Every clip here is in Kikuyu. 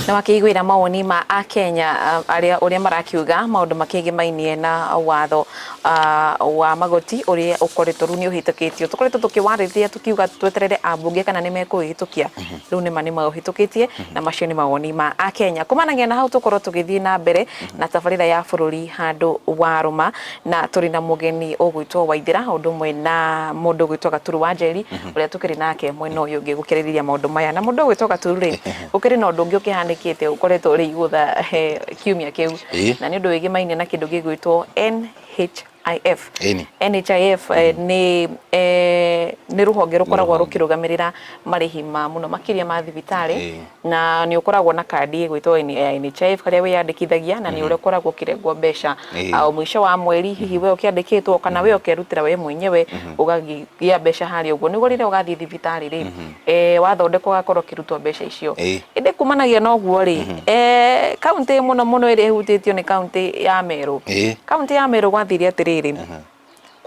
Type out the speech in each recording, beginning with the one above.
na makĩiguĩra mawoni ma a Kenya arĩa ũrĩa marakiuga maũndũ makĩgiĩ mainie na watho wa magoti ũrĩa ũkoretwo rĩu nĩ ũhĩtũkĩtio tũkoretwo tũkĩwarĩrĩria tũkiuga tweterere ambunge kana nĩ mekũhĩtũkia mhm. rĩu nĩ ma nĩ maũhĩtũkĩtie mhm. na macio nĩ mawoni ma a Kenya kumanagia na hau tũkorwo tũgĩthiĩ na mbere mhm. na tabarĩra ya bũrũri handũ warũma na tũrĩ na mũgeni ũgwĩtwo Waithĩra o ũndũ ũmwe na mũndũ ũgwĩtwo Gaturu wa Njeri ũrĩa tũkĩrĩ nake mwena ũyũ ũngĩ gũkĩrĩrĩria maũndũ maya na mũndũ ũgwĩtwo Gaturu rĩ gũkĩrĩ na ũndũ ũngĩ ũkĩhanĩkĩte ũkoretwo ũrĩ igũtha he kiumia kĩu Ĩĩ. na nĩ ũndũ wĩgĩmainie na kĩndũ gĩgwĩtwo NHIF Ĩni. NHIF eh, nĩ eh, nĩ rũhonge rũkoragwo Rũhonge. rũkĩrũgamĩrĩra marĩhi ma mũno makĩria ma thibitarĩ Ĩĩ. na nĩ ũkoragwo na kandi ĩgwĩtwo N- ya NHIF harĩa wĩyandĩkithagia na nĩ ũrĩa ũkoragwo ũkĩrengwo mbeca Ĩĩ. ah, o mũico wa mweri hihi we ũkĩandĩkĩtwo kana we ũkerutĩra we mwenyewe ũgagĩa mbeca harĩa ũguo nĩguo rĩrĩa ũgathiĩ thibitarĩ rĩ eh, wathondekwo ũgakorwo ũkĩrutwo mbeca icio Ĩĩ. ĩndĩ kumanagia na ũguo rĩ eh, kaunti mũno mũno ĩrĩa ĩhutĩtio nĩ kaunti ya merũ Ĩĩ. kaunti ya merũ gwathire atĩrĩrĩ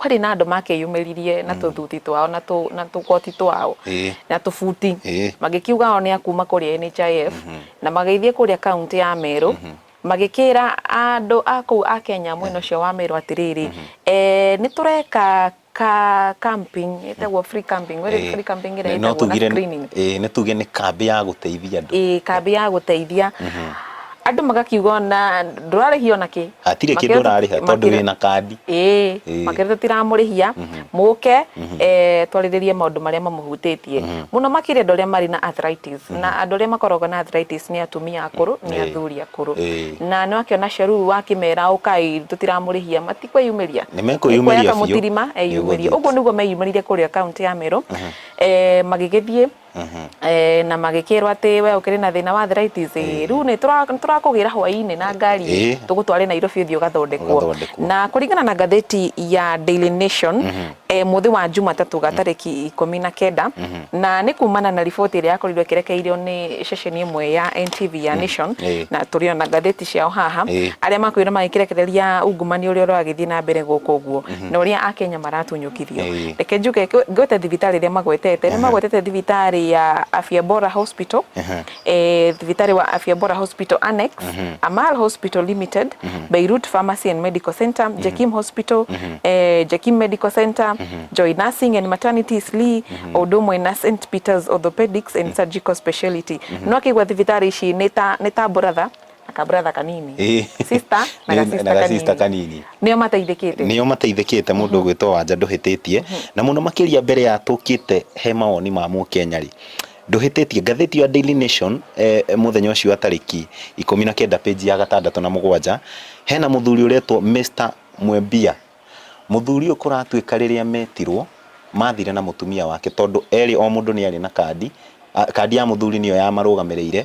kwarĩ na andũ makĩyumĩririe na mm. tũthuti twao na tũkoti twao na tũbuti magĩkiuga ao nĩ akuma kũrĩa NHIF mm-hmm. na magĩthiĩ kũrĩa kaunti ya Meru mm-hmm. magĩkĩra andũ a kũu a Kenya mwena ũcio wa Meru atĩrĩrĩ mm-hmm. eh, nĩ tũreka ka camping etagwo free camping where eh, free camping ira etagwo na screening eh nä tuge nä kambä ya gå teithia andå eh kambä ya gå teithia andũ magakiuga ona ndũrarĩhia ona kĩ Hatirĩ kĩndũ Makĩria- ũrarĩha tondũ makĩria- wĩna kandi. ĩĩ Ĩĩ. makĩria tũtiramũrĩhia mũke eh, twarĩrĩrie maũndũ marĩa mamũhutĩtie mũno makĩria andũ arĩa marĩ na arthritis na andũ arĩa makoragwo na arthritis nĩ atumia akũrũ nĩ Ĩĩ. athuri akũrũ Ĩĩ. na nĩ wakĩona cio rĩu wakĩmera ũkai tũtiramũrĩhia matikwĩyumĩria Nĩ mekwĩyumĩria Nĩkuoya biũ. kamũtirima eyumĩrie Nĩũgũthiĩ. ũguo nĩguo meyumĩrire kũrĩa kaunti ya merũ Eh, magĩgĩthiĩ Eh, na magĩkĩrwo atĩ we ũkĩrĩ na thĩna wa arthritis ĩ, rĩu nĩ tũra- nĩ tũrakũgĩra hwaĩ-inĩ na ngari Ĩ. tũgũtware Nairobi ũthiĩ ũgathondekwo Ũgathondekwo. na kũringana na ngathĩti ya Daily Nation eh, mũthĩ wa Jumatatũ ga tarĩki ikũmi na kenda na nĩ kumana na riboti ĩrĩa yakorirwo ĩkĩrekeirio nĩ ceceni ĩmwe ya NTV ya Nation Ĩ. na tũrĩ ona ngathĩti ciao haha Ĩ. arĩa makwĩra magĩkĩrekereria ungumania ũrĩa ũragĩthiĩ na mbere gũkũ ũguo na ũrĩa akenya maratunywo kũrutithio Ĩĩ. reke njuge ngwe- ngwete thibitarĩ ĩrĩa magwetete nĩ magwetete thibitarĩ ya afya bora hospital Ehe. eh, thibitarĩ wa afya bora hospital annex amal hospital limited beirut pharmacy and medical center jakim hospital eh, jakim medical center joy nursing and maternity slee o ũndũ ũmwe na st peters orthopedics and surgical speciality no akĩigua thibitarĩ ici nĩ ta nĩ ta brother akabrother kanini Ĩĩ. sister na Nĩ- gasister na gasister kanini kanini. nĩo mateithĩkĩte nĩo mateithĩkĩte mũndũ ũgwĩtwo wanja ndũhĩtĩtie na mũno makĩria mbere ya tũkĩte he mawoni ma mũkenya rĩ ndũhĩtĩtie ngathĩti ya Daily Nation eh, mũthenya ũcio wa tarĩki ikũmi na kenda page ya gatandatũ na mũgwanja hena mũthuri ũretwo Mr Mwembia Mũthuri ũyũ kũratuĩka rĩrĩa metirwo, mathire na mũtumia wake tondũ erĩ o mũndũ nĩ arĩ na kandi, kandi ya mũthuri nĩyo ya marũgamĩrĩire.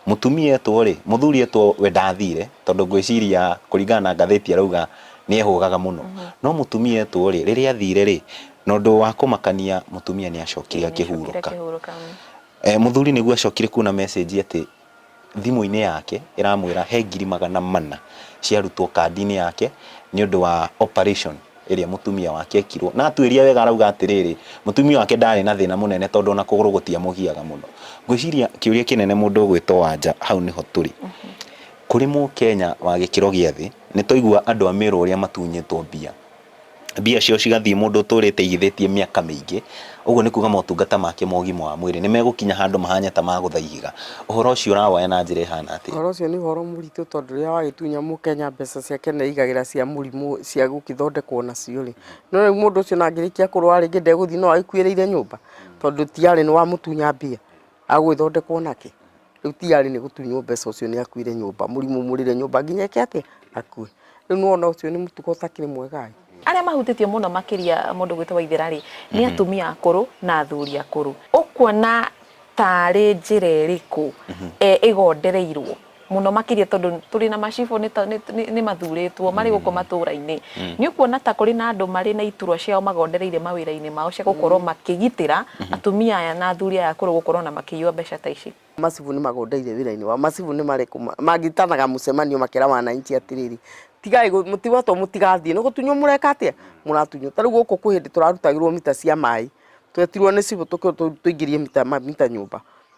Mũtumia etwo rĩ, mũthuri etwo we ndathire tondũ ngwĩciria kũringana na ngathĩti arauga nĩ ehũgaga mũno. No mũtumia etwo rĩ, rĩrĩa athire rĩ, na ũndũ wa kũmakania mũtumia nĩ acokire akĩhurũka. Mũthuri nĩguo acokire kuona message atĩ... thimũ-inĩ yake ĩramwĩra he ngiri magana mana ciarutwo kandi-inĩ yake nĩ ũndũ wa operation ĩrĩa mũtumia wake ekirwo. Na atuĩria wega arauga atĩrĩrĩ, mũtumia wake ndarĩ na thĩna mũnene tondũ ona kũgũrũ gũtiamũgiaga mũno. Ngwĩciria kĩũria kĩnene mũndũ ũgwĩtwo Wanja hau nĩho tũrĩ. Kũrĩ Mũkenya wa gĩkĩro gĩa thĩ, nĩ twaigua andũ a Merũ ũrĩa matunyĩtwo mbia. mbia ciao cigathiĩ mũndũ ũtũrĩte aigithĩtie mĩaka mĩingĩ, ũguo nĩ kuga motungata make ma ũgima wa mwĩrĩ nĩ megũkinya handũ mahane ta magũtha ihiga. Ũhoro ũcio ũrawoya na njĩra ĩhana atĩa? Ũhoro ũcio nĩ ũhoro mũritũ tondũ rĩrĩa wagĩtunya mũkenya mbeca ciake nĩ aigagĩra cia mũrimũ cia gũgĩthondekwo nacio rĩ, nĩ ũĩ mũndũ ũcio ona angĩrĩkia kũrwara rĩngĩ ndegũthiĩ no agĩkuĩrĩire nyũmba tondũ ti arĩ nĩ wamũtunya mbia. Agũgĩthondekwo nakĩ? Rĩu ti arĩ nĩ gũtunywo mbeca ũcio nĩ akuire nyũmba, mũrimũ mũrĩre nyũmba nginya eke atĩ akue. Rĩu nĩ wona ũcio nĩ mũtugo ũtakĩrĩ mwega-ĩ. Arĩa mahutĩtio mũno makĩria mũndũ gwĩtwo Waithera-rĩ, nĩ atumia akũrũ na athuri akũrũ. Ũkuona ta arĩ njĩra ĩrĩkũ ĩgondereirwo? muno makiria tondu turi na macibo ni mathuritwo mari guko mm. matura-ini mm. ni ukuona ta kuri na andu mari na iturwa ciao magondereire mawira-ini mao cia gukorwo mm. makigitira mm-hmm. atumia aya na athuri aya kuru gukorwo na makiyua mbeca ta ici macibu ni magondeire wira-ini wa macibu ni mari magitanaga mucemanio makira wananchi atiriri tigai mutiwa to mutigathie no gutunyo mureka atia muratunyo tari guko kuhindi turarutagirwo mita cia mai twetirwo ni cibu tuingirie mita mita nyumba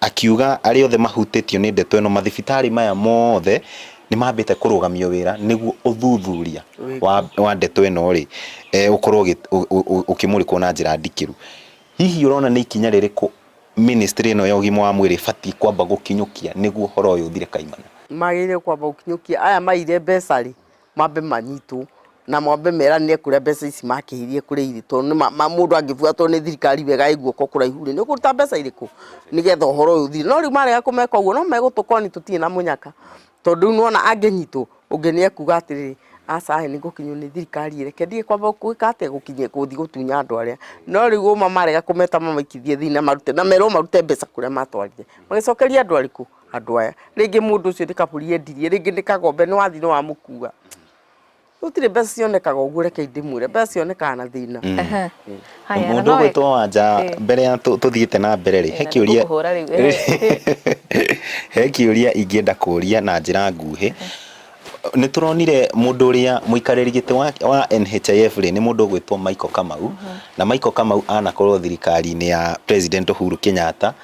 Akiuga arĩa othe mahutĩtio nĩ ndeto ĩno mathibitarĩ maya mothe nĩ mambĩte kũrũgamio wĩra nĩguo ũthuthuria wa, wa ndeto ĩno rĩ e, ũkorwo ũgĩ- ũ- ũ- ũ- ũkĩmũrĩkwo na njĩra ndikĩru. Hihi ũrona nĩ ikinya rĩrĩkũ ministry ĩno ya ũgima wa mwĩrĩ ĩbatiĩ kwamba gũkinyũkia nĩguo ũhoro ũyũ ũthire kaimana? magĩrĩire kwamba gũkinyũkia aya maire mbeca rĩ mambe manyitwo na mambe meranĩre kũrĩa mbeca ici makĩhirie kũrĩa irĩ tondũ nĩma ma- mũndũ angĩbuatwo nĩ thirikari wega ĩ guoko kũraihu rĩ nĩ kũruta mbeca irĩkũ nĩgetha ũhoro ũyũ ũthire no rĩu marega kũmeka ũguo no megũtũkoni tũtirĩ na mũnyaka tondũ rĩu nĩwona angĩnyitwo ũngĩ nĩ ekuga atĩrĩrĩ aca he nĩ ngũkinywo nĩ thirikari ĩreke thiĩ kwamba gwĩka atĩa gũkinyia gũthiĩ gũtunya andũ arĩa no rĩu ũma marega kũmeta mamaikithie thĩinĩ na marute na merwo marute mbeca kũrĩa matwarire magĩcokerie andũ arĩkũ andũ aya rĩngĩ mũndũ ũcio nĩ kabũri endirie rĩngĩ nĩ kagombe nĩ wathi nĩ wamũkua gũtirĩ mbeca cionekaga ũguo reke ndĩmwĩre mbeca cionekaga na thĩna Aha. Haya, na mũndũ no ũgwĩtwo wĩ- wanja Ĩĩ. mbere ya tũ- tũthiĩte na mbere rĩ he Na kĩũria nĩngũkũhũra rĩu, ĩĩ. he kĩũria ingĩenda kũria na njĩra nguhĩ nĩ tũronire mũndũ ũrĩa mũikarĩri gĩtĩ wa- wa NHIF rĩ nĩ mũndũ ũgwĩtwo Michael Kamau na Michael Kamau anakorwo thirikari-inĩ ya president Uhuru Kenyatta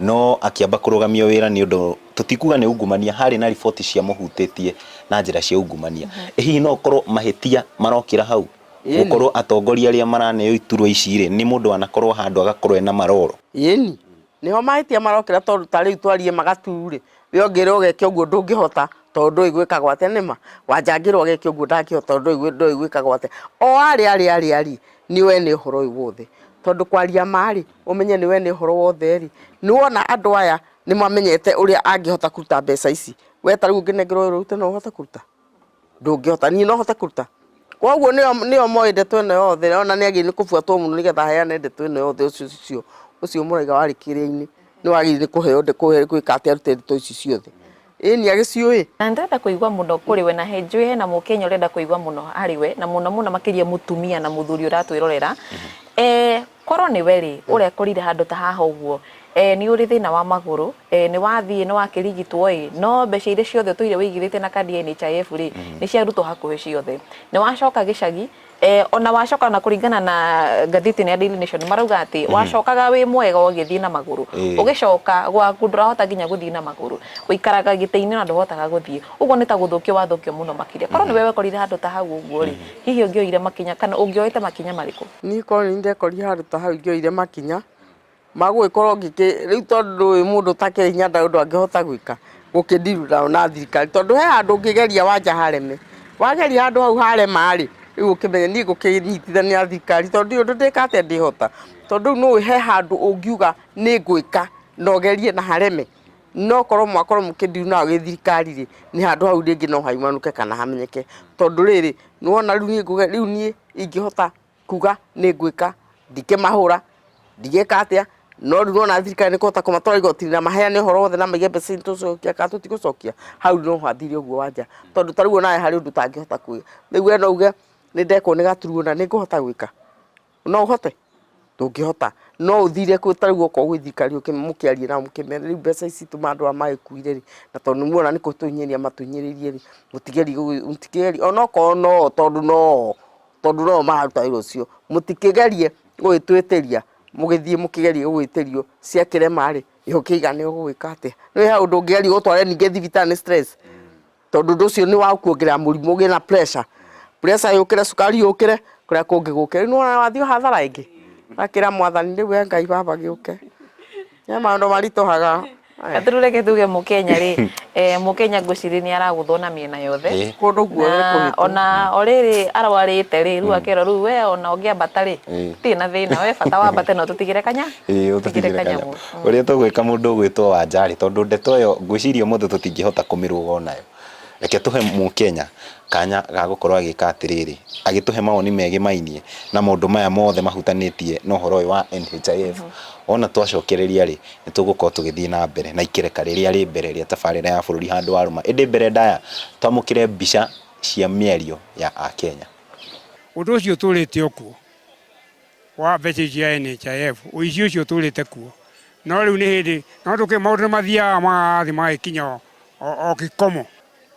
no akĩamba kũrũgamio wĩra nĩ ũndũ tũtikuga nĩ ungumania, harĩ na riboti ciamũhutĩtie na njĩra cia ungumania. Mm -hmm. Ĩ hihi no ũkorwo mahĩtia marokĩra hau gũkorwo atongoria arĩa maraneo iturwa ici rĩ nĩ mũndũ anakorwo handũ agakorwo ena maroro? Yeni niho mahĩtia marokĩra tondũ ta rĩu twarie magatu rĩ we ũngĩrwo ũgeke ũguo ndũngĩhota tondũ ndũĩ gwĩka gwate nĩma wanjangĩrwo ageke ũguo ndangĩhota tondũ ndũĩ gwĩka gwate o arĩ arĩ arĩ arĩ nĩ we nĩ ũhoro ũyũ wothe. Tondũ kwaria ma rĩ, ũmenye nĩ we nĩ ũhoro wothe rĩ, nĩ wona andũ aya nĩ mamenyete ũrĩa angĩhota kũruta mbeca ici. We ta rĩu ũngĩnengerwo wĩra ũrute no ũhote kũruta? Ndũngĩhota. Niĩ no hote kũruta? Koguo nĩo nĩo moĩ ndeto ĩno yothe, ona nĩ agĩrĩire nĩ kũbuatwo mũno nĩgetha aheane ndeto ĩno yothe ũcio ũcio ũcio mũraiga warĩ kĩrĩa-inĩ nĩ wagĩrĩire nĩ kũheo kũhe gwĩka atĩ arute ndeto ici ciothe. Ĩĩ nĩ agĩciũĩ. Na nĩ ndĩrenda kũigua mũno kũrĩ we na he njũĩ hena mũkenya ũrenda kũigua mũno harĩ we na mũno mũno makĩria mũtumia na mũthuri ũratwĩrorera eh, korwo nĩ we rĩ ũrekũrire handũ ta haha ũguo eh, nĩ ũrĩ thĩna wa magũrũ eh, nĩ wathiĩ nĩ wakĩrigitwo ĩ no mbeca iria ciothe ũtũire wĩigithĩte na kandi ya NHIF rĩ nĩ ciarutwo hakuhĩ ciothe nĩ wacoka gĩcagi Eh, ona wacoka ona kũringana na ngathĩti ya Daily Nation marauga atĩ mhm. wacokaga wĩ mwega ũgĩthiĩ na magũrũ ũgĩcoka gwaku ndũrahota nginya gũthiĩ na magũrũ ũikaraga gĩtĩ-inĩ na ndũhotaga gũthiĩ ũguo nĩ ta gũthũkio wathũkio mũno makĩria korwo nĩ mhm. wewe korire handũ ta hau ũguo rĩ mhm. hihi ũngĩoire makinya kana ũngĩoete makinya marĩkũ niĩ korwo nĩ ndekorire handũ ta hau ingĩoire makinya Magũgĩkorwo ngĩkĩ, rĩu tondũ ndũĩ mũndũ ũtakĩrĩ hinya ndarĩ ũndũ angĩhota gwĩka, gũkĩ deal na, na thirikari, tondũ he handũ ũngĩgeria wanja hareme, wageria handũ hau harema rĩ, rĩu ũkĩmenye niĩ ngũkĩnyitithania na thirikari tondũ ndiũĩ ũndũ ndĩka atĩa ndĩhota, tondũ rĩu nĩũĩ he handũ ũngiuga nĩngwĩka na ũgerie na hareme, nokorwo mwakorwo mũkĩ deal na gĩthirikari rĩ, nĩ handũ hau rĩngĩ no haumanũke kana hamenyeke, tondũ rĩrĩ, nĩwona rĩu niĩ ngũge, rĩu niĩ ingĩhota. kuga nĩ ngwĩka ndikĩmahũra ndigĩka atĩa no rĩu ona thirikari nĩ kũhota kũmatwara igoti-inĩ na maheane ũhoro wothe na maige mbeca tũcokia kana tũtigũcokia hau no hathire ũguo wanja tondũ ta rĩu onawe harĩ ũndũ ũtangĩhota kuga rĩu we no uge nĩ ndekwo nĩ gaturuo na nĩ ngũhota gwĩka no ũhote ndũngĩhota no ũthire kwĩ ta rĩu okorwo gwĩ thirikari mũkĩarie nao mũkĩmere rĩu mbeca ici tũma andũ aya magĩkuire rĩ na tondũ nĩ muona nĩ kũhinyĩrĩria matũhinyĩrĩirie rĩ mũtigerie mũtigerie onokorwo no tondũ no tondũ no mararuta wĩra ũcio mũtikĩgerie gũgĩtwĩtĩria mũgĩthiĩ mũkĩgerie gũgĩtĩrio cia kĩrema rĩ gĩko kĩigane ũgwĩka atĩa nĩ he handũ ndũngĩgeria gũtware ningĩ thibitarĩ nĩ stress tondũ ũndũ ũcio nĩ wakuongerera mũrimũ ũgĩe na pressure pressure yũkĩre cukari yũkĩre kũrĩa kũngĩ gũkĩre rĩu nĩ wona wathiĩ hathara ĩngĩ gakĩra mwathani rĩu we ngai baba gĩũke He maũndũ maritũhaga. Gathuure ke tuge Mũkenya rĩ, eh, Mũkenya ngwĩciria nĩ aragũthwo na mĩena yothe. Ĩĩ. Kũndũ guothe Na kũhĩtwo. ona o rĩrĩ arwarĩte rĩ, rĩu akerwo rĩu we ona ũngĩambata rĩ, Ĩĩ. tĩ na thĩna, we bata wambate na ũtũtigĩre kanya, Ĩĩ, ũtũtigĩre kanya. ũrĩa tũgwĩka mũndũ ũgwĩtwo wanjarĩ tondũ ndeto ĩyo ngwĩciria ũmũthĩ tũtingĩhota kũmĩrũga o nayo Reke tũhe Mũkenya kanya ga gũkorwo agĩka atĩrĩrĩ, agĩtũhe mawoni megĩmainie na maũndũ maya mothe mahutanĩtie na ũhoro ũyũ wa NHIF. Wona twacokereria rĩ, nĩ tũgũkorwo tũgĩthiĩ na mbere na ikereka rĩrĩa rĩ mbere rĩa tabarĩra ya bũrũri handũ wa rũma. Ĩndĩ mbere ndaya, twamũkĩre mbica cia mĩario ya Akenya. Ũndũ ũcio ũtũũrĩte o kuo, wa mbeca icio cia NHIF, ũici ũcio ũtũũrĩte kuo. No rĩu nĩ hĩndĩ, no tũkĩ, maũndũ nĩ mathiaga magathiĩ magagĩkinya o o gĩkomo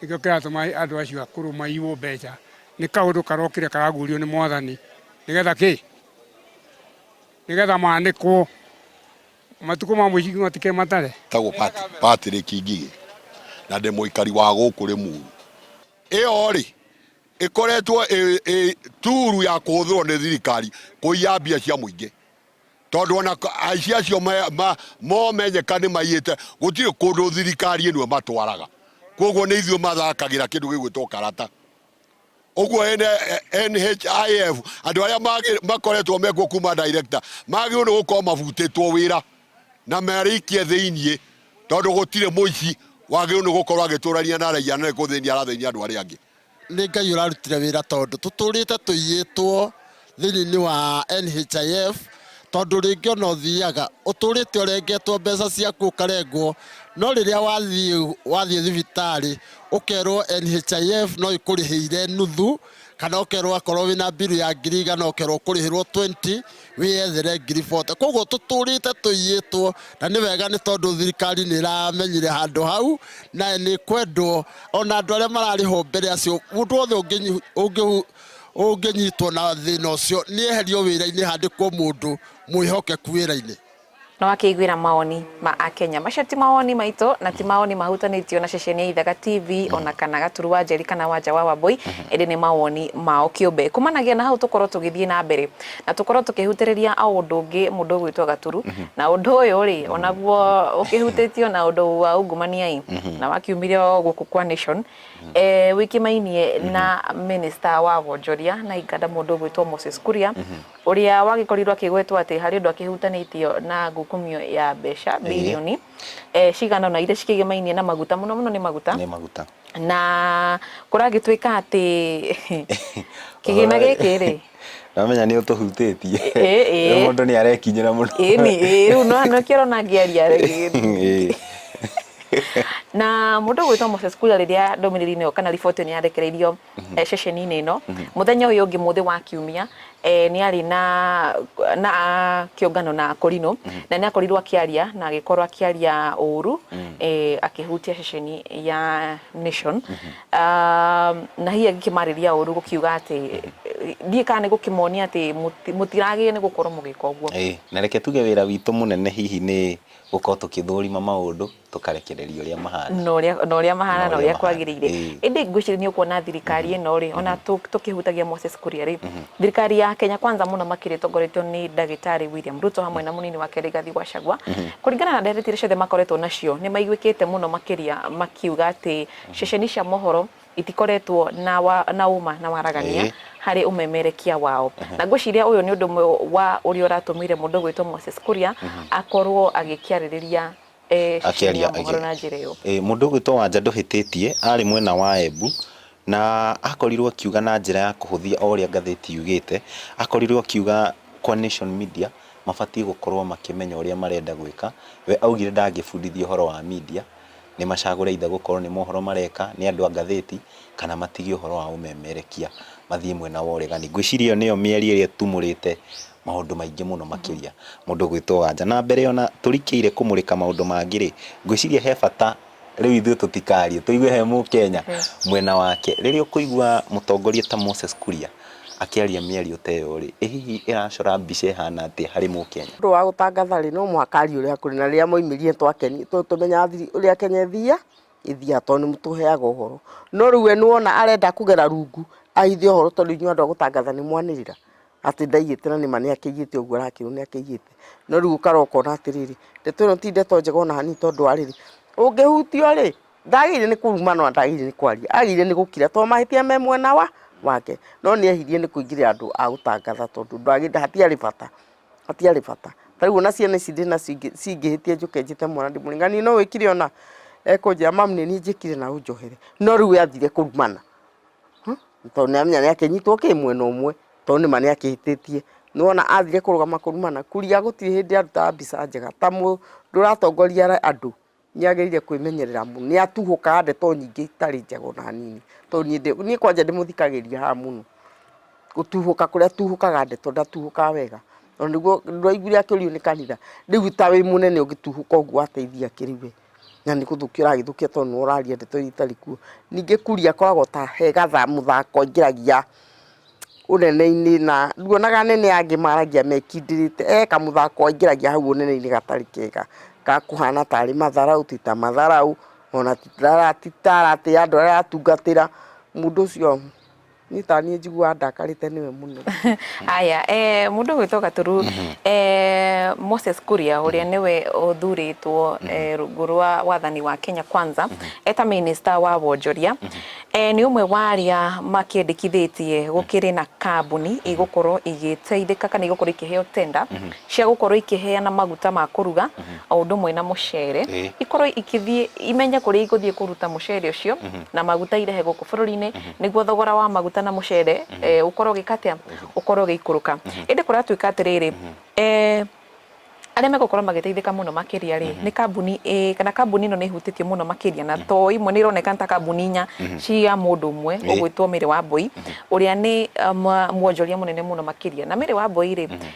nĩkĩo kĩratũma andũ acio akũrũ maiywo mbeca. Nĩ kaũndũ karokire karagurio nĩ mwathani nĩgetha kĩ? Nĩgetha manĩkwo matukũ ma mũico matikĩ matare. Tagwo Patrick Ngigĩ na ndĩ mũikari wa gũkũ Rĩmuru. Ĩyo rĩ ĩkoretwo ĩ turu ya kũhũthĩrwo nĩ thirikari kũiya mbia cia mũingĩ. Tondũ o na aici acio momenyeka nĩ maiyĩte, gũtirĩ kũndũ thirikari ĩno ĩmatwaraga. Kwoguo nĩ ithuĩ mathakagĩra kĩndũ gĩgwĩtwo karata. Ũguo NHIF andũ arĩa makoretwo mekuo kuma director magĩrĩirwo nĩ gũkorwo mabutĩtwo wĩra na marĩikie thĩiniĩ, tondũ gũtirĩ mũici wagĩrĩirwo nĩ gũkorwo agĩtũrania na raiya na nĩ gũthĩnia arathĩnia andũ arĩa angĩ. Nĩ Ngai ũrarutire wĩra tondũ tũtũrĩte tũiyĩtwo thĩinĩ wa NHIF tondũ rĩngĩ ona ũthiaga ũtũrĩte ũrengetwo mbeca ciaku ũkarengwo no rĩrĩa wathiĩ wathiĩ thibitarĩ ũkerwo NHIF no ĩkũrĩhĩire nuthu kana ũkerwo akorwo wĩna mbiru ya ngiri igana ũkerwo ũkũrĩhĩrwo 20 wĩyethere ngiribote koguo tũtũrĩte tũiyĩtwo na nĩ wega nĩ tondũ thirikari nĩ ĩramenyire handũ hau na nĩ kwendwo ona andũ arĩa mararĩhwo mbere acio mũndũ wothe ũngĩnyi- ũngĩhu- ũngĩnyitwo na thĩna ũcio nĩ eherio wĩra-inĩ handĩkwo mũndũ mwĩhokeku wĩra-inĩ No akĩiguĩra mawoni ma Akenya. Macio ti mawoni maitũ na ti mawoni mahutanĩtio na ceceni ya Ithaga TV mm-hmm. ona kana Gaturu wa Njeri kana Wanja wa Wambũi mm-hmm. ĩndĩ nĩ mawoni mao kĩũmbe. Kumanagia na hau tũkorwo tũgĩthiĩ na mbere na tũkorwo tũkĩhutĩrĩria a ũndũ ũngĩ mũndũ ũgwĩtwo Gaturu mm-hmm. na ũndũ ũyũ rĩ onaguo ũkĩhutĩtio na ũndũ wa ungumania-ĩ na wakiumire o gũkũ kwa Nation e, wĩkĩmainie na minista wa wonjoria na inganda mũndũ ũgwĩtwo Moses Kuria ũrĩa wagĩkorirwo akĩgwetwo atĩ harĩ ũndũ akĩhutanĩtio na ngukumio ya mbeca Ĩĩ. birioni eh, cigana ũna iria cikĩgemainie na maguta mũno mũno nĩ maguta nĩ maguta na kũragĩtuĩka atĩ kĩgĩna Ũhoro- gĩkĩ rĩ ndamenya nĩ ũtũhutĩtie Ĩ- ĩ. Rĩu mũndũ nĩ arekinyĩra mũno ĩni ĩ, rĩu no- nĩkĩo ũrona ngĩaria rĩ. Ĩ. na mũndũ ũgwĩtwo Moses Kuria rĩrĩa ndũmĩrĩri-inĩ ĩyo kana riboti ĩyo nĩ yarekereirio eh, ceceni-inĩ ĩno mũthenya ũyũ ũngĩ mũthĩ wa kiumia eh, nĩ arĩ na na kĩũngano na Akorino na nĩ akorirwo akĩaria na agĩkorwo akĩaria ũũru eh, akĩhutia ceceni ya Nation Ah, na hihi agĩkĩmarĩria ũũru gũkiuga atĩ eh, ndiĩ kana nĩ gũkĩmonia atĩ mũti- mũtiragĩrĩire nĩ gũkorwo mũgĩka ũguo Ĩĩ, na reke tuge wĩra witũ mũnene hihi nĩ gũkorwo tũkĩthũrima maũndũ tũkarekereria ũrĩa mahana na ũrĩa na ũrĩa mahana na ũrĩa kwagĩrĩire ĩndĩ ngwĩciria nĩ ũkuona thirikari mm-hmm. ĩno rĩ ona mm-hmm. tũkĩhutagia Moses Kuria rĩ mm-hmm. thirikari ya Kenya kwanza mũno makĩria tongoretio nĩ ndagĩtarĩ William Ruto hamwe na mũnini wake Rigathi Gachagua kũringana na ndereti iria ciothe makoretwo nacio nĩ maiguĩkĩte mũno makĩria makiuga atĩ ceceni cia mohoro itikoretwo na wa, na uma na waragania harĩ umemerekia wao na ngwĩciria ũyũ nĩ ũndũ ũmwe wa ũrĩa ũratũmire mũndũ gwĩtwo Moses Kuria akorwo agĩkĩarĩrĩria eh, akĩaria ciumia mohoro na njĩra ĩyo. Ĩĩ, mũndũ ũgwĩtwo wanja ndũhĩtĩtie arĩ mwena wa embu na akorirwo akiuga na njĩra ya kũhũthia o ũrĩa ngathĩti yugĩte akorirwo akiuga kwa nation media mabatiĩ gũkorwo makĩmenya ũrĩa marenda gwĩka we augire ndangĩbundithia ũhoro wa media nĩ macagũre ithe gũkorwo nĩ mohoro mareka nĩ andũ a ngathĩti kana matige ũhoro wa ũmemerekia mathiĩ mwena wa ũregani ngwĩciria ĩyo nĩyo mĩario ĩrĩa ĩtumũrĩte maũndũ maingĩ mũno makĩria mũndũ gwĩtwo Wanja. Na mbere ona tũrikĩire kũmũrĩka maũndũ mangĩ-rĩ, ngwĩciria he bata rĩu ithuĩ tũtikaarie, tũigue he Mũkenya mwena wake. Rĩrĩa ũkũigua mũtongoria ta Moses Kuria akĩaria mĩario ta ĩyo-rĩ, ĩ hihi ĩracora mbica ĩhana atĩa harĩ Mũkenya? Mũndũ wa gũtangatha-rĩ, no mũhaka arie ũrĩa kũrĩ, na rĩrĩa mwaumĩria nĩtwakeni, tondũ tũmenyaga thiri, ũrĩa Kenya ĩthiaga, ĩthiaga tondũ nĩmũtũheaga ũhoro. No rĩu we nĩwona arenda kũgera rungu ahithe ũhoro tondũ inyuĩ andũ a gũtangatha nĩmwanĩrĩra. atĩ ndaiyĩte na nĩma nĩakĩiyĩte ũguo arakĩrwo nĩakĩiyĩte. No rĩu ũkara ũkona atĩrĩrĩ, ndeto ĩno ti ndeto njega ona hanini tondũ wa rĩrĩ, ũngĩhutio-rĩ, ndagĩrĩire nĩ kũruma no ndagĩrĩire nĩ kwaria, agĩrĩire nĩ gũkira tondũ mahĩtia me mwena wa, wake. No nĩehirie nĩ kũingĩrĩra andũ a gũtangatha tondũ ndagĩrĩire hatiarĩ bata, hatiarĩ bata. Ta rĩu ona ciana ici ndĩ nacio ingĩ cingĩhĩtia njũke njĩte mwana ndĩmũringanie no wĩkire ũna, ekũnjĩra mamu nĩ niĩ njĩkire na ũnjohere. No rĩu we athire kũrumana. tondũ nĩ amenya nĩ akĩnyitwo kĩ mwena ũmwe tondũ nĩma nĩ akĩhĩtĩtie. Nĩ wona athire kũrũgama kũrumana, Kuria gũtirĩ hĩndĩ arutaga mbica njega. Ta mũndũ ũratongoria andũ nĩ agĩrĩire kwĩmenyerera mũno. Nĩ atuhũkaga ndeto nyingĩ itarĩ njega ona hanini. To niĩ ndĩ, niĩ kwanja ndĩmũthikagĩrĩria haha mũno. Gũtuhũka kũrĩa atuhũkaga ndeto ndatuhũkaga wega. Tondũ nĩguo ndwaiguire akĩũrio nĩ kanitha, rĩu ta wĩ mũnene ũngĩtuhũka ũguo wateithia kĩ rĩu we? Na nĩ gũthũkia ũragĩthũkia tondũ nĩwe ũraria ndeto iria itarĩ kuo. Ningĩ Kuria akoragwo ta he gathaa mũthako aingĩragia ũnene-inĩ na nduonaga anene aya angĩ maragia mekindĩrĩte. He kamũthako aingĩragia hau ũnene-inĩ gatarĩ kega ga kũhana tarĩ matharaũ, ti ta matharaũ, ona ti ta aratĩĩa andũ arĩa aratungatĩra. Mũndũ ũcio... niĩ ta niĩ njiguaga ndakarĩte nĩwe mũno aya eh, mũndũ gwĩtwo gaturu mhm. eh, moses kuria ũrĩa mhm. nĩwe ũthurĩtwo mhm. eh, rungu rwa wathani wa kenya kwanza eta minista wa wonjoria eh, nĩ ũmwe wa arĩa makĩendekithĩtie gũkĩrĩ na kambuni igũkorwo igĩteithĩka kana igũkorwo ikĩheo tenda cia gũkorwo ikĩheana maguta ma kũruga o ũndũ ũmwe na mũcere eh. ikorwo ikĩthiĩ imenye kũrĩa igũthiĩ kũruta mũcere ũcio na maguta irehe gũkũ bũrũri-inĩ nĩguo thogora wa maguta na mũcere mm -hmm. ũkorwo gĩka atĩa ũkorwo gĩikũrũka mm -hmm. ĩndĩ kũratuĩka atĩrĩrĩ mm -hmm. eh, arĩa megũkorwo magĩteithĩka mũno makĩria rĩ mhm. nĩ kambuni ĩ kana kambuni ĩno nĩ ĩhutĩtio mũno makĩria na mhm. to imwe nĩ ironeka ta kambuni inya mhm. cia mũndũ ũmwe ũgwĩtwo Mary Wambui ũrĩa nĩ um, mwonjoria mũnene mũno makĩria na Mary Wambui rĩ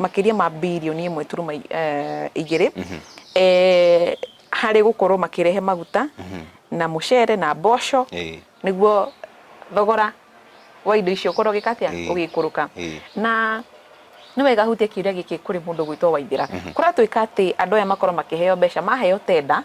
makĩria ma birioni ĩmwe turuma eh, igĩrĩ eh, harĩ gũkorwo makĩrehe maguta na mũcere na mboco Ĩĩ. nĩguo thogora wa indo icio ũkorwo ũgĩka atĩa Ĩĩ. ũgĩikũrũka Ĩĩ. na nĩ wega hutia kiuria gĩkĩ kũrĩ mũndũ gwĩtwo waithĩra kũratuĩka atĩ andũ aya makorwo makĩheo mbeca maheo tenda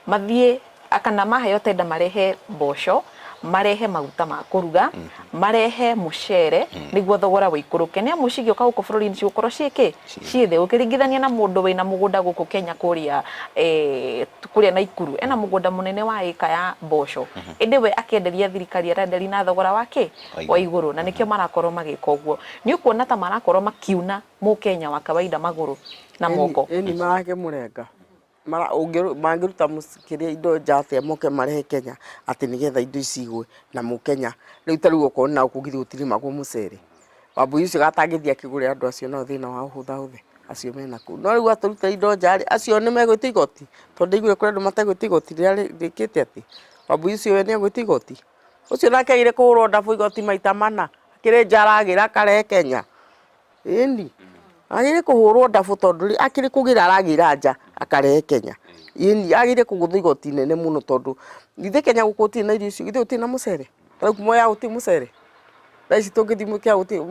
mathiĩ Kana maheo tender marehe mboco, marehe maguta ma kũruga, marehe mũcere nĩguo thogora ũikũrũke. Nĩ amu cigĩũka gũkũ bũrũri-inĩ cigũkorwo ciĩ kĩ? Ciĩ thĩ. Ũkĩringithania na mũndũ wĩna mũgũnda gũkũ Kenya kũrĩa eh kũrĩa Naikuru, ena mũgũnda mũnene wa ĩka ya mboco, ĩndĩ we akĩenderia thirikari arenderia na thogora wa kĩ? Wa igũrũ. Na nĩkĩo marakorwo magĩka ũguo. Nĩ ũkuona ta marakorwo makiuna mũkenya wa kawaida magũrũ na moko. Ĩni marakĩmũrenga. mara ũngĩrũ mangĩruta mũci kĩrĩa indo nja atĩa moke marehe Kenya atĩ nĩgetha indo ici igwe na mũkenya, rĩu tarĩu okorwo nagũkũ githĩ gũtirĩmagwo mũcere, wambũi ũcio atangĩthiĩ akĩgũrĩre andũ acio nao thĩna wao hũthahũthĩ acio me nakũu, no rĩu atũrutĩra indo nja rĩ, acio nĩmegwĩtia igoti? to ndĩiguire kũrĩ andũ mategwĩtia igoti rĩrĩa rĩ rĩkĩte atĩ, wambũi ũcio we nĩegwĩtia igoti? ũcio nake agĩrĩire kũhũrwo ndabũ igoti maita mana, akĩrĩ nja aragĩra akarehe Kenya, ĩni agĩrĩ kũhũrwo ndabũ tondũ akĩrĩ kũgĩra aragĩra nja akarehe Kenya ĩni agĩrĩ kũgũthwo igoti nene mũno tondũ githĩ Kenya gũkũ gũtirĩ na irio icio githĩ gũtirĩ na mũcere rĩu Mwea gũtirĩ mũcere thaa ici tũngĩthi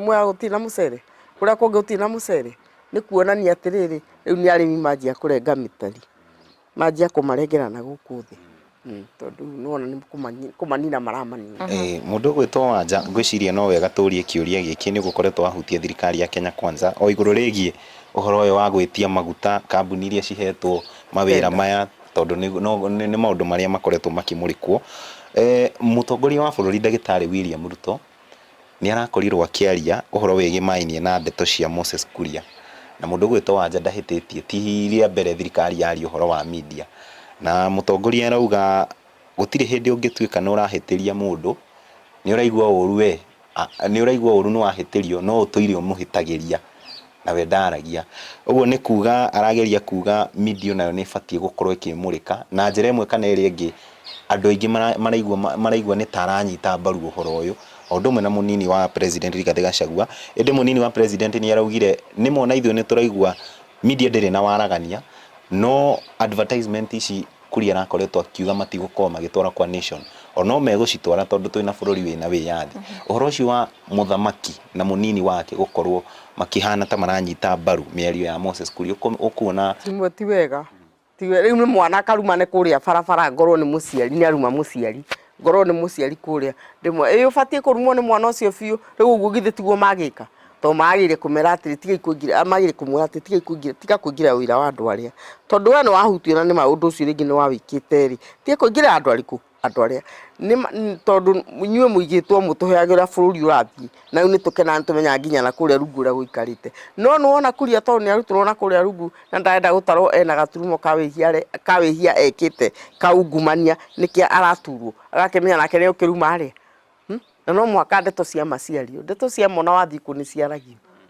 Mwea gũtirĩ na mũcere kũrĩa kũngĩ gũtirĩ na mũcere nĩ kũonania atĩrĩrĩ rĩu nĩ arĩmi manjia kũrenga mĩtari. manjia kũmarengera na gũkũ thĩ Mm, tondũ nĩwona nĩ kũmani- kũmanina maramanina Eh, mũndũ ũgwĩtwo wanja ngwĩciria no wega tũrie kĩũria gĩkĩ nĩ gũkorwo twahutia thirikari ya Kenya Kwanza o igũrũ rĩgiĩ ũhoro ũyũ wa gwĩtia maguta kambuni iria cihetwo mawĩra Tenda. maya tondũ nĩ- no- nĩ nĩ maũndũ marĩa makoretwo makĩmũrĩkwo Eh, mũtongoria wa bũrũri ndagĩtarĩ William Ruto nĩ arakorirwo akĩaria ũhoro wĩgĩmainie na ndeto cia Moses Kuria. Na mũndũ ũgwĩtwo Wanja ndahĩtĩtie, ti rĩa mbere thirikari yaria ũhoro wa media. Na mũtongoria arauga gũtirĩ hĩndĩ ũngĩtuĩka nĩ ũrahĩtĩria mũndũ, nĩ ũraigua ũru we, nĩ ũraigua ũru nĩ wahĩtĩrio no ũtũire ũmũhĩtagĩria. Nawe ndaaragia. Ũguo nĩ kuuga arageria kuuga media o nayo nĩ ĩbatiĩ gũkorwo ĩkĩmũrĩka na njĩra ĩmwe kana ĩrĩa ĩngĩ. Andũ aingĩ maraigua maraigua nĩ ta aranyita mbaru ũhoro ũyũ, o ũndũ ũmwe na mũnini wa president Rigathĩ Gachagua. Ĩndĩ mũnini wa president nĩ araugire nĩ ma o na ithuĩ nĩ tũraigua media ndĩrĩ na waragania, no advertisement ici Kuria arakoretwo akiuga matigũkorwo magĩtwara kwa nation o no megũcitwara tondũ twĩ na bũrũri wĩ na wĩyathi. Ũhoro ũcio wa mũthamaki na mũnini wake gũkorwo makĩhana ta maranyita mbaru mĩario ya Moses Kuria ũkuona. Timwe ti wega, rĩu nĩ mwana akaruma nĩ kũrĩa barabara ngorwo nĩ mũciari nĩ aruma mũciari. ngorwo nĩ mũciari kũrĩa ndĩmwe ĩ ũbatiĩ kũrumwo nĩ mwana ũcio biũ rĩu ũguo githĩ tiguo magĩka to magĩrĩire kũmera atĩrĩ tiga ikũingĩra magĩrĩire kũmwĩra atĩrĩ tiga ikũingĩra tiga kũingĩra ũira wa andũ arĩa tondũ we nĩ wahutio na nĩ ma ũndũ ũcio rĩngĩ nĩ wawĩkĩte rĩ tiga kũingĩra andũ arĩkũ andũ arĩa nĩ ma- n- tondũ inyuĩ mũigĩtwo mũtũheagĩra bũrũri ũrathiĩ na rĩu nĩtũkenaga nĩtũmenyaga nginya na kũrĩa rungu ũrĩa gũikarĩte no nĩwona kuria tondũ nĩarutirwo na kũrĩa rungu na ndarenda gũtarwo ena gaturumo ka wĩhia re- ka wĩhia ekĩte ka ungumania nĩkĩo araturwo agakĩmenya nake nĩũkĩruma arĩa na no mũhaka ndeto cia ma ciario ndeto cia ma ona wathiĩ kuo nĩciaragio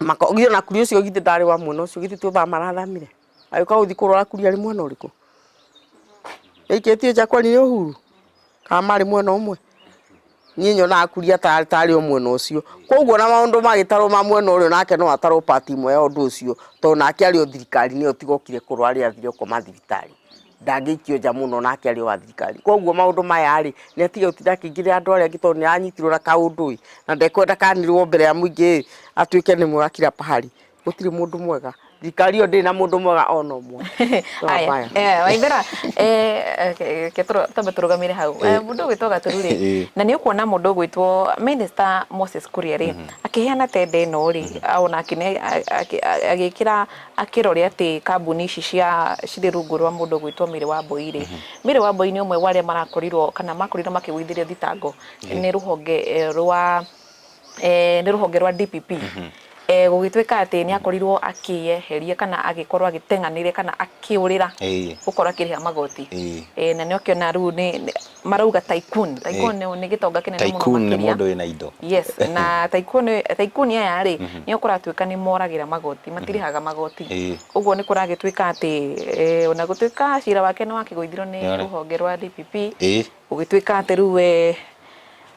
mako githĩ ona kuri ũcio githĩ ndarĩ wa mwena ũcio githĩ tuothaa marathamire agĩka gũthiĩ kũrora kuri arĩ mwena ũrĩkũ ĩikĩtie nja kwani nĩ ũhuru kana marĩ mwena ũmwe niĩ nyonaga kuri ata- atarĩ o mwena ũcio koguo na maũndũ magĩtarwo ma mwena ũrĩa nake no atarwo part ĩmwe ya ũndũ ũcio tondũ nake arĩ o thirikari-inĩ ĩyo tigokire kũrora arĩa athire gũkoma thibitarĩ ndangĩikio nja mũno nake arĩ wa thirikari koguo maũndũ maya rĩ nĩ atige gũtinda akĩingĩrĩra andũ arĩa angĩ tondũ nĩ aranyitirwo na kaũndũ ĩ na ndekwenda kanirwo mbere ya mũingĩ ĩ atuĩke nĩ mwega kila pahali gũtirĩ mũndũ mwega thirikari ĩyo ndĩrĩ na mũndũ mwega ona ũmwe No Aya, mbaya. eh, waithera eh, okay, reke tũrũ- twambe tũrũgamĩre hau Eh, mũndũ ũgwĩtwo gaturu rĩ Eh. na nĩ ũkuona mũndũ ũgwĩtwo minista moses kuria rĩ akĩheana tenda ĩno rĩ ona akĩne- a- akĩ- a- agĩkĩra Akĩrore atĩ kambuni ici cia cirĩ rungu rwa mũndũ ũgwĩtwo Mary Wambũi rĩ, Mary Wambũi nĩ ũmwe wa arĩa marakorirwo kana makorirwo makĩgũithĩrio thitango nĩ rũhonge eh, rwa eh, nĩ rũhonge rwa DPP eh, gũgĩtuĩka atĩ nĩ akorirwo akĩyeheria kana agĩkorwo agĩteng'anĩre kana akĩũrĩra Ĩĩ. gũkorwo akĩrĩha magoti Ĩĩ. eh, na nĩokĩona rĩu nĩ nĩ- marauga tycoon tycoon nĩ nĩ gĩtonga kĩnene mũno Tycoon nĩ makĩria. mũndũ wĩna indo. yes na tycoon tycoon aya rĩ Mhm. nĩo kũratuĩka nĩ moragĩra magoti matirĩhaga magoti Ĩĩ. ũguo nĩ kũragĩtuĩka atĩ eh, ona gũtuĩka cira wake nĩ wakĩgũithirwo nĩ Nĩarĩ. rũhonge rwa DPP Ĩĩ. gũgĩtuĩka atĩ rĩu we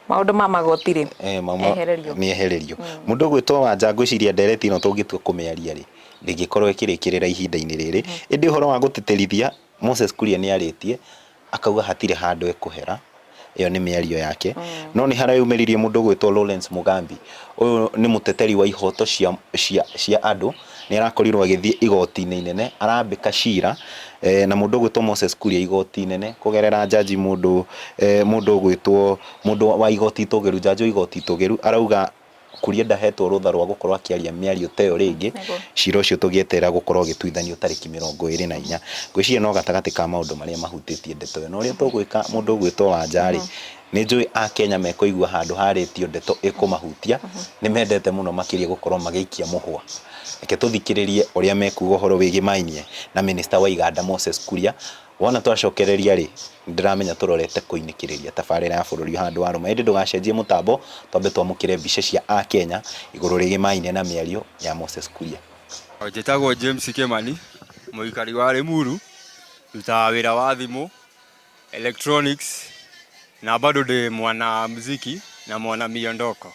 maũndũ ma magoti rĩ Eh, mama- ehererio nĩ ehererio mũndũ ũgwĩtwo wanja ngwĩciria ndereti ĩno tũngĩtua kũmĩaria rĩ ndĩngĩkorwo ĩkĩrĩkĩrĩra ihinda-inĩ rĩrĩ ĩndĩ ũhoro wa gũtĩtĩrithia Moses Kuria nĩarĩtie akauga hatirĩ handũ ekũhera, ĩyo nĩ mĩario yake, no nĩhareyumĩririe mũndũ ũgwĩtwo Lawrence Mugambi, ũyũ nĩ mũteteri wa ihoto cia cia cia andũ, nĩarakorirwo agĩthiĩ igoti-inĩ inene arambĩka cira na mũndũ ũgwĩtwo Moses Kuria igoti inene kũgerera njanji mũndũ mũndũ ũgwĩtwo mũndũ wa igoti itũgĩru, njanji wa igoti itũgĩru arauga Kuria ndahetwo rũtha rwa gũkorwo akĩaria mĩario ta ĩyo rĩngĩ, cira ũcio tũgĩeterera gũkorwo ũgĩtuithanio tarĩki mĩrongo ĩrĩ na inya. Ngwĩciria no gatagatĩ ka maũndũ marĩa mahutĩtie ndeto ĩyo. Na ũrĩa tũgwĩka mũndũ ũgwĩtwo Wanja rĩ, nĩ njũĩ Akenya mekũigua handũ harĩtio ndeto ĩkũmahutia, nĩ mendete mũno makĩria gũkorwo magĩikia mũhwa. Reke tũthikĩrĩrie ũrĩa mekuga ũhoro wĩgiĩ Maĩ Maĩ na Minister wa iganda Moses Kuria. Wona twacokereria-rĩ, nĩndĩramenya tũrorete kũinĩkĩrĩria tabarĩra ya bũrũri handũ wa arũme. Ĩndĩ ndũgacenjie mũtambo twambe twamũkĩre mbica cia Akenya igũrũ rĩgĩ maine na mĩario ya Moses Kuria. Njĩtagwo James Kĩmani, mũikari wa Limuru, ndutaga wĩra wa thimũ, electronics, na bado ndĩ mwana mziki na mwana miondoko.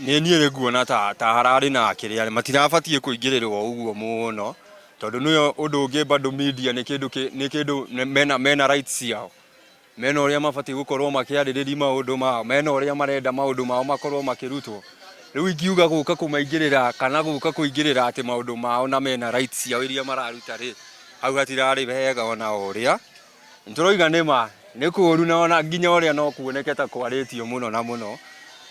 Nĩ niĩ rĩ nguona ta ta hararĩ na kĩrĩa, matirabatiĩ kũingĩrĩrwo ũguo mũno, Tondũ nĩyo ũndũ ũngĩ bado media nĩ kĩndũ kĩ- nĩ kĩndũ nĩ- mena, mena rights ciao mena ũrĩa mabatiĩ gũkorwo makĩarĩrĩria maũndũ mao mena ũrĩa marenda maũndũ mao makorwo makĩrutwo rĩu ingiuga gũka kũmaingĩrĩra kana gũka kũingĩrĩra atĩ maũndũ mao na mena rights ciao iria mararuta rĩ hau hatirarĩ wega ona ũrĩa nĩ tũroiga nĩ ma nĩ kũũru na ona nginya ũrĩa no kuoneke ta kwarĩtio mũno na mũno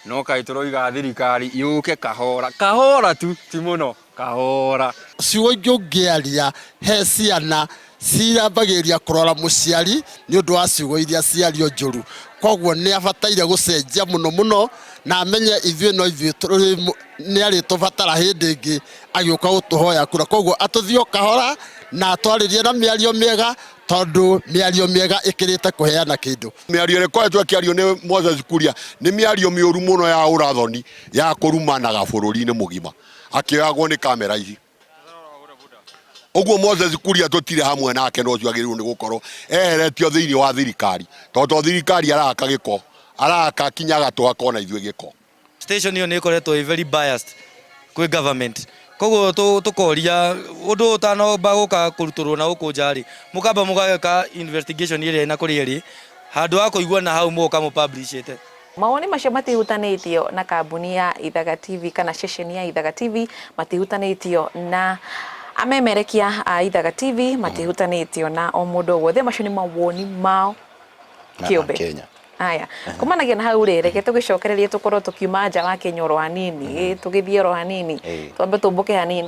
no kaĩ tũroiga thirikari yũke kahora kahora tu ti mũno Kahora. Ciugo ingĩ ũngĩaria, he ciana ciambagĩrĩria kũrora mũciari nĩ ũndũ wa ciugo iria ciario njũru. Koguo nĩ abataire gũcenjia mũno mũno na amenye ithuĩ no ithuĩ nĩ arĩtũbatara hĩndĩ ĩngĩ agĩũka gũtũhoya kura. Koguo atũthiĩ o kahora na atwarĩrie na mĩario mĩega tondũ mĩario mĩega ĩkĩrĩte kũheana kĩndũ. Mĩario ĩrĩa ĩkoretwo ĩkĩario nĩ Moses Kuria nĩ mĩario mĩũru mũno ya ũrathoni, ya kũrumanaga bũrũri-inĩ mũgima. akĩoyagwo nĩ kamera ici ũguo moses kuria tũtirĩ hamwe nake na ũcio agĩrĩirwo nĩ gũkorwo eheretio thĩinĩ wa thirikari tondũ to thirikari araka gĩko araka kinya agatũ akona ithuĩ gĩko station ĩyo nĩ ĩkoretwo ĩ very biased kwĩ government koguo tũ- tũkoria ũndũ ũyũ ũtanomba gũka kũrutũrwo na gũkũ nja rĩ mũkamba mũgagĩka investigation ĩrĩa ĩna kũrĩa ĩrĩ handũ ha kũigua na hau mũgoka mũpublishĩte Mawoni macio matihutanĩtio na kambuni ya Ithaga TV kana ceceni ya Ithaga TV, matihutanĩtio na amemerekia a Ithaga TV, mm. matihutanĩtio na o mũndũ o wothe. Macio nĩ mawoni mao kĩũmbe. Kenya. Haya, kumanagia na hau rĩ, reke tũgĩcokererie tũkorwo tũkiuma nja wa Kenya oro hanini, mm-hmm. tũgĩthiĩ oro hanini, twambe tũmbũke hanini,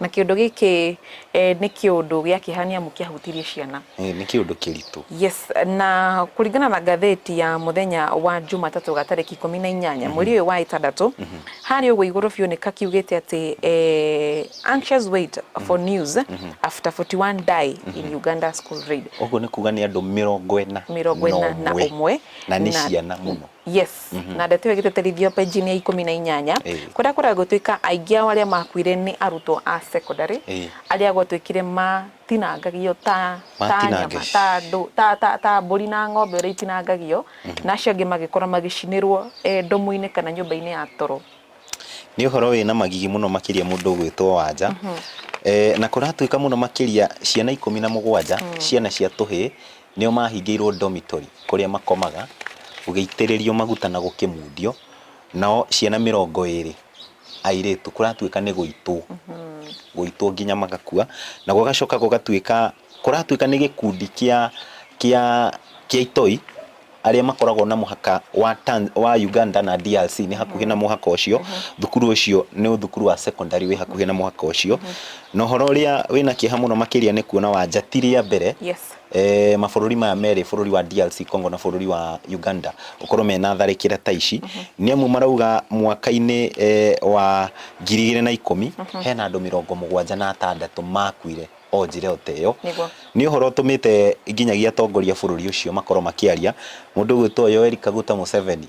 Na kĩũndũ gĩkĩ eh, nĩ kĩũndũ gĩa kĩeha nĩ amu kĩahutirie ciana Ĩĩ, nĩ kĩũndũ kĩritũ yes na kũringana na ngathĩti ya mũthenya wa jumatatũ ga tarĩki ikũmi na inyanya mweri ũyũ wa ĩtandatũ harĩ ũguo igũrũ biũ nĩ kakiugĩte atĩ eh, anxious wait for news after 41 die in uganda school raid ũguo nĩ kuga nĩ andũ mĩrongo ĩna mirongo ĩna na ũmwe na nĩ ciana mũno Yes mm -hmm. na ndeto ĩyo ĩgĩtĩtĩrithio penjini ya ikũmi na inyanya kũrĩa kũrĩa gũtuĩka aingĩ ao arĩa makuire nĩ arutwo a secondary arĩa gwatuĩkire matinangagio ta ta nyama ta ndũ ta ta ta mbũri na ng'ombe ũrĩa itinangagio mm -hmm. na acio angĩ magĩkorwo magĩcinĩrwo e, ndomu-inĩ kana nyũmba-inĩ ya toro nĩ ũhoro wĩna magigi mũno makĩria mũndũ ũgwĩtwo wanja mm -hmm. e, na kũratuĩka mũno makĩria ciana ikũmi na mũgwanja mm. ciana cia tũhĩĩ Nĩo maahingĩirwo dormitory kũrĩa makomaga, gũgĩitĩrĩrio maguta na gũkĩmundio, nao ciana mĩrongo ĩrĩ, airĩtu, kũratuĩka nĩ gũitwo, gũitwo nginya magakua, na gũgacoka gũgatuĩka, kũratuĩka nĩ gĩkundi kĩa, kĩa, kĩa itoi, arĩa makoragwo na mũhaka wa Tan, wa Uganda na DRC nĩ hakuhĩ na mũhaka ũcio, thukuru ũcio nĩ thukuru wa secondary wĩ hakuhĩ na mũhaka ũcio, na ũhoro ũrĩa wĩna kĩeha mũno makĩria nĩ kuona Wanja ti rĩa mbere, Yes. eh, mabũrũri maya merĩ bũrũri wa DRC Congo na bũrũri wa Uganda gũkorwo mena tharĩkĩra ta ici nĩ amu marauga mwaka-inĩ eh, wa ngiri igĩrĩ na ikũmi hena andũ mĩrongo mũgwanja na atandatũ makuire o njĩra o ta ĩyo Nĩguo. nĩ ũhoro ũtũmĩte nginyagia atongoria a bũrũri ũcio makorwo makĩaria mũndũ ũgwĩtwo Yoweri Kaguta Museveni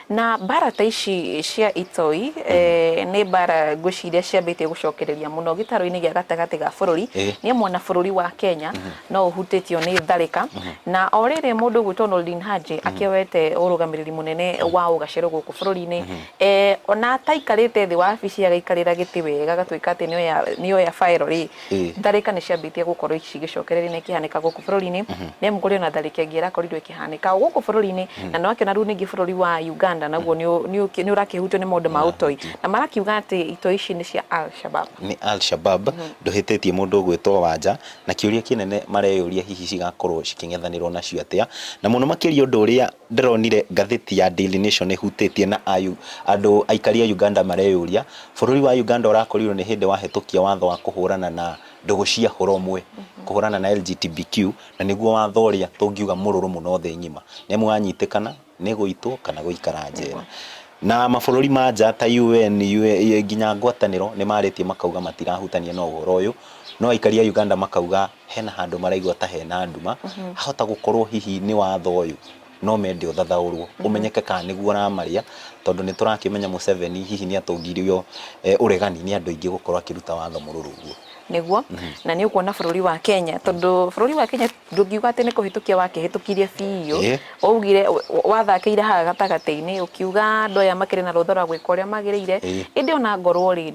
Na mbara ta ici cia itoi, nĩ mbara ngwĩciria ciambĩtie gũcokereria mũno gĩtarũ-inĩ gĩa gatagatĩ ga bũrũri, nĩ amu ona bũrũri wa Kenya no ũhutĩtio nĩ tharĩka, na o rĩrĩ mũndũ ũgwĩtwo Noordin Haji akĩoete ũrũgamĩrĩri mũnene wa ũgacĩru gũkũ bũrũri-inĩ, ona ataikarĩte thĩ wabici agaikarĩra gĩtĩ wega agatuĩka atĩ nĩ oya file rĩ, Tharĩka nĩ ciambĩtie gũkorwo cigĩcokereria na ikĩhanĩka gũkũ bũrũri-inĩ, nĩ amu kũrĩ ona tharĩka ĩngĩ ĩrakorirwo ĩkĩhanĩka o gũkũ bũrũri-inĩ, na nĩ wakĩona rĩu ningĩ bũrũri wa Uganda naguo nĩ ũrakĩhutio nĩ maũndũ ma ũtoi, na marakiuga atĩ itoi ici nĩ cia Alshabab. Nĩ Alshabab, ndũhĩtĩtie mũndũ ũgwĩtwo Wanja, na kĩũria kĩnene mareyũria hihi cigakorwo cikĩng'ethanĩrwo nacio atĩa, na mũno makĩria ũndũ ũrĩa Ndĩronire ngathĩti ya Daily Nation ĩhutĩtie na ayũ, andũ aikari a Uganda mareyũria, bũrũri wa Uganda ũrakorirwo nĩ hĩndĩ wahĩtũkia watho wa kũhũrana na ndũgũ cia hũra ũmwe, kũhũrana na LGTBQ, na nĩguo watho ũrĩa tũngiuga mũrũrũ mũno thĩ ng'ima, nĩ amu wanyitĩkana nĩ gũitwo kana gũikara njera. Na mabũrũri ma nja ta UN, nginya ngwatanĩro nĩ marĩtie makauga matirahutania na ũhoro ũyũ, no aikari a Uganda makauga, hena handũ maraigua ta hena nduma, hahota gũkorwo hihi nĩ watho ũyũ no mende ũthathaũrwo ũmenyeke kana nĩguo ũramarĩa, tondũ nĩ tũrakĩmenya Mũceveni hihi nĩ atũngirio ũregani nĩ andũ aingĩ gũkorwo akĩruta watho mũrũrũ ũguo. Nĩguo, na nĩ ũkuona bũrũri wa Kenya, tondũ bũrũri wa Kenya ndũngiuga atĩ nĩ kũhĩtũkia wakĩhĩtũkirie biũ, Waugire, wathakĩire haha gatagatĩ-inĩ ũkiuga andũ aya makĩrĩ na rũtha rwa gwĩka ũrĩa magĩrĩire, Ĩĩ. ĩndĩ ona ngorwo-rĩ,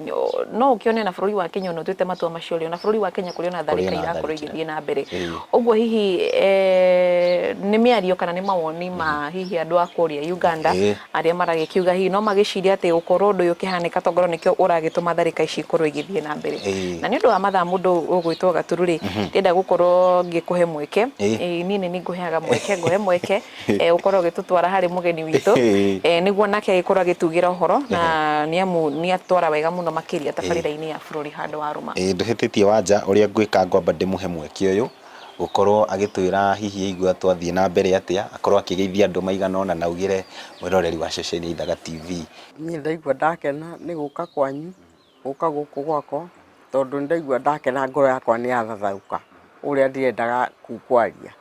no ũkĩone ona bũrũri wa Kenya ona ũtuĩte matua macio-rĩ, ona bũrũri wa Kenya kũrĩ ona Kũrĩ tharĩka ona irakorwo tharĩkĩra. igĩthiĩ na mbere. Ĩĩ. Ũguo hihi eh, nĩ mĩario kana nĩ mawoni ma hihi andũ a kũrĩa Uganda Ĩĩ. Arĩa maragĩkiuga hihi no magĩcirie atĩ gũkorũo ũndũ ũyũ ũkĩhanĩka to ngorũo nĩkĩo ũragĩtũma tharĩka ici ikorũo igĩthiĩ na mbere. Na nĩ ũndũ wa mathaa mũndũ ũgwĩtwo Gaturu rĩ, ndĩrenda gũkorũo ngĩkũhe mweke, niĩ nĩ niĩ ngũheaga mweke, ngũhe mweke ũkorũo ũgĩtũtwara harĩ mũgeni witũ nĩguo nake agĩkorũo agĩtugĩra ũhoro na nĩ amu nĩ atwara wega mũno makĩria tabarĩra-inĩ ya Bũrũri Handũ Warũma. Ĩĩ ndũhĩtĩtie Wanja, ũrĩa ngwĩka ngwamba ndĩmũhe mweke ũyũ gũkorwo agĩtwĩra hihi aigua twathiĩ na mbere atĩa, akorwo akĩgeithia andũ maigana ũna na augĩre mwĩroreri wa ceceni ya Ithaga TV. Niĩ ndaigua ndakena nĩ gũka kwanyu, gũka gũkũ gwakwa tondũ nĩndaigua ndakena ngoro yakwa nĩyathathaũka ũrĩa ndĩrendaga kwaria.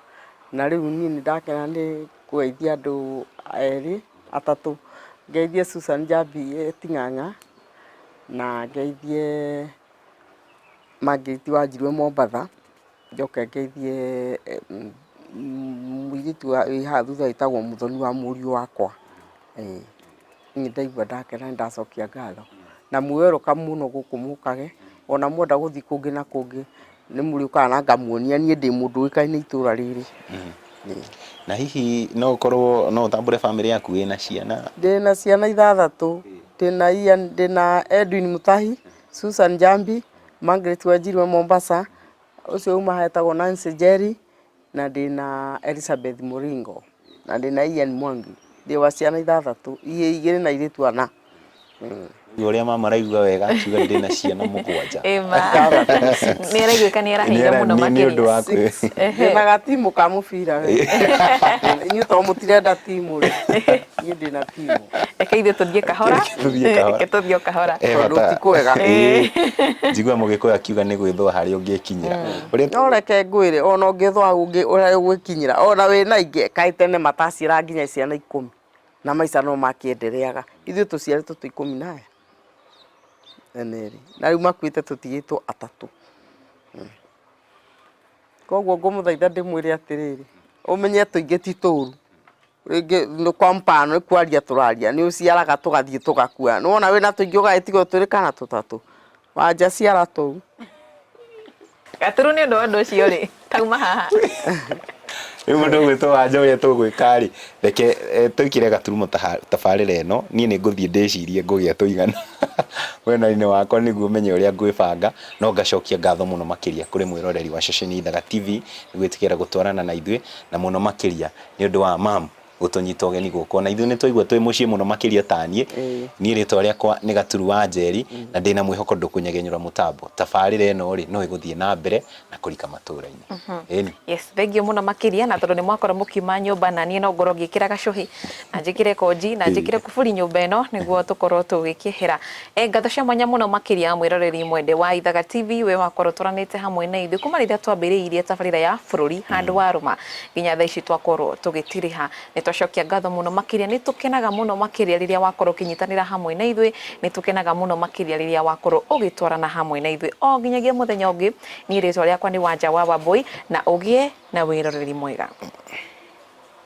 Na rĩu niĩ nĩndakena nĩ kũgeithia andũ erĩ, atatũ, ngeithie Susan Njambi e Ting'ang'a na ngeithie... Mangĩti wa Njirũ e Mombatha, njoke ngeithie mũirĩtu wĩ haha thutha wĩtagwo Mũthoni wa mũriũ wakwa. Nĩ ndaigua ndakena nĩ ndacokia ngatho. Na mwĩ welcome mũno gũkũ mũkage, ona mwenda gũthiĩ kũngĩ na kũngĩ nĩ mũrĩũkaga na ngamuonia niĩ ndĩ mũndũ ũĩkaine itũra rĩrĩ. Na hihi no ũkorwo no ũtambũre bamĩrĩ yaku wĩna ciana? Ndĩna ciana ithathatũ, ndĩna Ian, ndĩna Edwin Mũtahi, Susan Njambi, Margaret Wanjiru wa Mombasa, ũcio uma haha etagwo Nancy Njeri, na ndĩ na Elizabeth Mũringo, na ndĩ na Ian Mwangi. Ndĩ wa ciana ithathatũ, igĩrĩ na airĩtu ana. Rĩu ũrĩa mama araigua wega akiuga ndĩ na ciana mũgwanja. Nĩ araiguĩka nĩ araheire mũno makĩria. Nĩ ũndũ wa kwĩ. Ndĩnaga timu ka mũbira we. Inyuĩ to mũtirenda timu rĩ. Niĩ ndĩna reke ithuĩ tũthiĩ kahora Reke tũthiĩ kahora. reke tũthiĩ o kahora Eh, Tondũ bata- ti kwega. Eh, njiguaga mũgĩkũyũ akiuga nĩ gwĩthũa harĩa ũngĩkinyĩra Ũrĩa- no reke ngwĩre ona ũngĩthwa ũngĩ ũrĩa ũgwĩkinyĩra ona wĩ na ingĩ kaĩ tene mataciara nginya ciana ikũmi na maica no makĩendereaga ithuĩ tũciarĩtwo twĩ ikũmi na aya eneri na rĩu makuĩte tũtigĩtwo atatũ Mm. koguo ngũmũthaitha ndĩmwĩre atĩrĩrĩ ũmenye tũingĩ ti tũru rĩngĩ nĩ kwa mpano nĩ kwaria tũraria nĩ ũciaraga tũgathiĩ tũgakua nĩ wona wĩna tũingĩ ũgagĩtigwo twĩrĩ kana tũtatũ wanja ciara tũu gaturu nĩ ũndũ wa ũndũ ũcio rĩ tauma haha rĩu mũndũ gwĩtwo wanja ũrĩa tũgwĩka rĩ reke eh, twĩkĩre gaturumo taha- tabarĩra ĩno niĩ nĩ ngũthiĩ ndĩcirie ngũgĩa tũigana wenainĩ wakwa nĩguo menye ũrĩa ngwĩbanga no ngacokia ngatho mũno makĩria kũrĩ mwĩroreri wa ceceni ithaga tv nĩ gwĩtĩkĩra gũtwarana na ithuĩ na mũno makĩria Nĩ ũndũ wa ma'am gũtũnyita ũgeni gũkũ. O na ithuĩ nĩ twaigua twĩ mũciĩ mũno makĩria ta niĩ. Niĩ rĩtwa rĩakwa nĩ Gaturu wa Njeri na ndĩ na mwĩhoko ndũkũnyagenyũra mũtambo. Tabarĩra ĩno rĩ, no ĩgũthiĩ na mbere na kũrika matũra-inĩ. Ĩni. Yes, thengiũ mũno makĩria na tondũ nĩ mwakorwo mũkiuma nyũmba na niĩ no ngorwo ngĩkĩra gacũhĩ na njĩkĩre konji na njĩkĩre kuburi nyũmba ĩno nĩguo tũkorwo tũgĩkĩehera. He ngatho cia mwanya mũno makĩria mwĩroreri mwende wa Ithaga TV we wakorwo tũranĩte hamwe na ithuĩ kuma rĩrĩa twambĩrĩirie tabarĩra ya bũrũri handũ wa rũma nginya thaa ici twakorwo tũgĩtirĩha. Nĩ twacokia ngatho mũno makĩria. Nĩ tũkenaga mũno makĩria rĩrĩa wakorwo ũkĩnyitanĩra hamwe na ithuĩ. Nĩ tũkenaga mũno makĩria rĩrĩa wakorwo ũgĩtwarana hamwe na ithuĩ o nginyagia mũthenya ũngĩ. Niĩ rĩtwa rĩakwa nĩ Wanja wa Wambũi na ũgĩe na wĩroreri mwega.